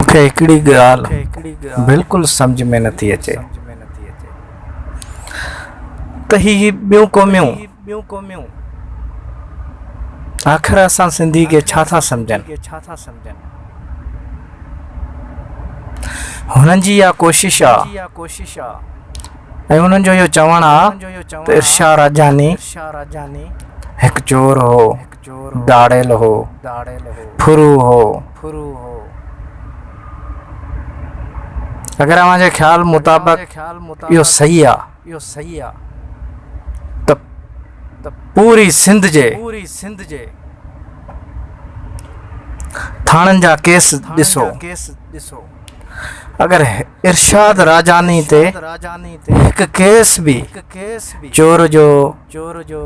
مون کي هڪڙي ڳالهه بلڪل سمجهه ۾ نٿي اچي ته هي ٻيون قوميون آخر اسان سنڌي کي ڇا ٿا سمجهن هنن جي اها ڪوشش آ ۽ هنن جو اهو چوڻ آ ته ارشا راجاني هڪ چور هو ڌاڙيل هو، ڦرو هو. اگر اوهان جي خيال مطابق اهو صحيح آ ته پوري سنڌ جي ٿاڻن جا ڪيس ڏسو. اگر ارشاد راجاني تي هڪ ڪيس به چور جو چور جو،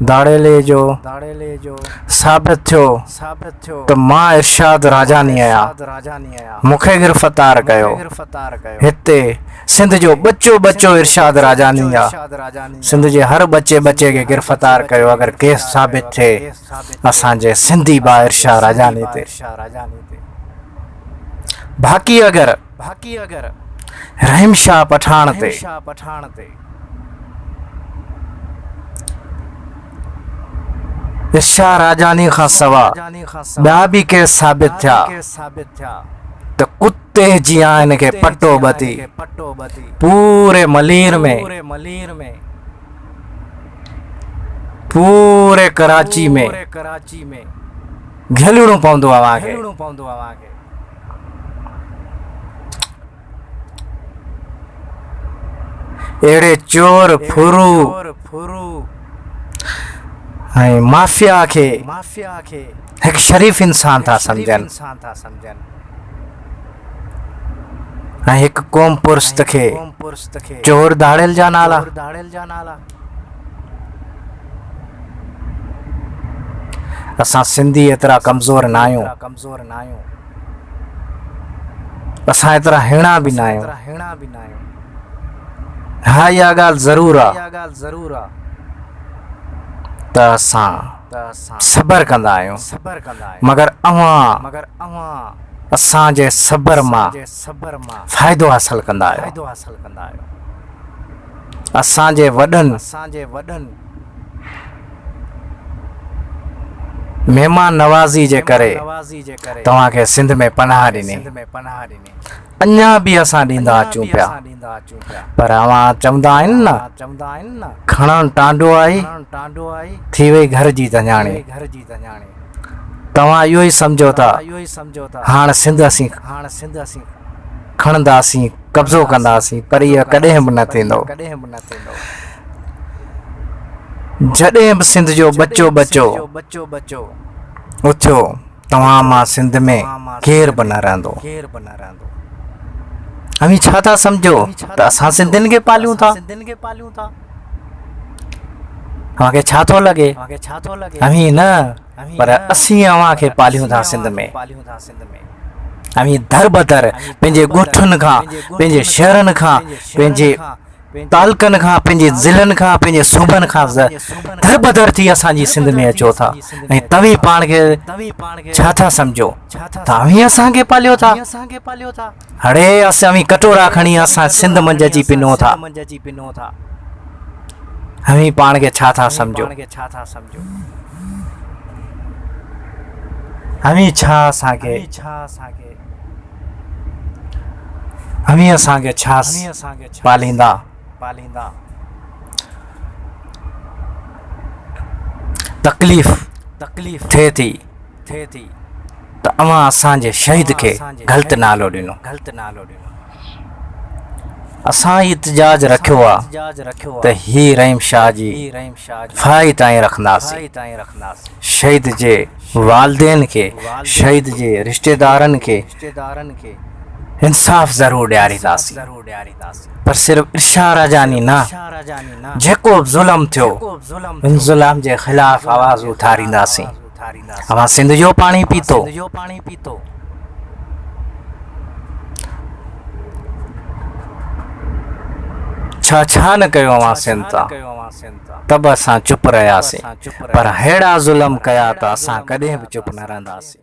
ڌاڙيلي جو ثابت ٿيو ته مان ارشاد راجاني آهيان. مون کي گرفتار ڪيو. هتي سنڌ جو ٻچو ٻچو ارشاد راجاني آ. سنڌ جي هر ٻچي ٻچي کي گرفتار ڪيو اگر ڪيس ثابت ٿئي اسان جي سنڌي ڀاء ارشاد راجاني تي. باقي اگر رحيم شاهه پٺاڻ تي. شاهه راجاڻي کان سوا ٻيا به ڪيس ثابت ٿيا ته ڪتي جيان هن کي پٽو ٻڌي پوري ملير ۾ پوري ڪراچي ۾ گهلڻو پوندو اوهان کي اهڙي چور ڦرو ۽ مافيا کي هڪ شريف انسان ٿا سمجهن ۽ هڪ قوم پرست کي چور ڌاڙيل جا نالا اسان سنڌي ايترا ڪمزور ناهيون اسان ايترا هيڻا به نه آهيون. ها اها ڳالهه ضرور آ ته اسان صبر ڪندا آهيون مگر اوهان اسان جي صبر مان فائدو حاصل ڪندا آهيو. اسان جي وڏن مهمان نوازي جي ڪري توهان کي سنڌ ۾ پناهه ڏني. اڃا به اسان ڏيندا اچون پيا. پر اوهان چوندا آهن نه کڻڻ ٽانڊو آهي، ٿي وئي گهر جي ڌڃاڻي. توهان اهو ئي سمجهو ٿا هاڻ سنڌ اسين کڻنداسين. قبضو ڪنداسين پر اهو ڪڏهن به نه ٿيندو. جڏهن به سنڌ جو ٻچو ٻچو اٿيو توهان مان سنڌ ۾ ڪير به نه رهندو. اوهين ڇا ٿا سمجهو ته اسان سنڌين کي پاليون ٿا؟ اوهان کي ڇا ٿو لڳي؟ اوهين نه پر اسين اوهان کي پاليون ٿا سنڌ ۾. اوهين در بدر پنهنجي ڳوٺن کان، پنهنجي شهرن کان، پنهنجي تعلقن کان، پنهنجي ضلعن کان، پنهنجي صوبن کان در بدر ٿي اسان جي سنڌ ۾ اچو ٿا ۽ توهين پاڻ کي ڇا ٿا سمجهو ته اوهين اسان کي پاليو ٿا؟ هڙي اسين اوهين ڪٽورا کڻي اسان سنڌ منجهه اچي پنون ٿا. اوهين پاڻ کي ڇا ٿا سمجهو؟ اوهين ڇا اسان کي اوهين اسان کي ڇا پاليندا؟ تڪليف ٿئي ٿي. ته اوهان اسان جي شهيد کي غلط نالو ڏنو. اسان هي احتجاج رکيو آ ته هي رحيم شاهه جي ڦاهي تائين رکنداسين. شهيد جي والدين کي، شهيد جي رشتيدارن کي انصاف ضرور ڏيارينداسين پر صرف ارشا راجاني نه جيڪو به ظلم ٿيو ان ظلم جي خلاف آواز اٿارينداسين. اوهان سنڌ جو پاڻي پيتو. ڇا ڇا نه ڪيو اوهان سنڌ تان. ته به اسان چپ رهياسين. پر ههڙا ظلم ڪيا ته اسان ڪڏهن به چپ نه رهنداسين.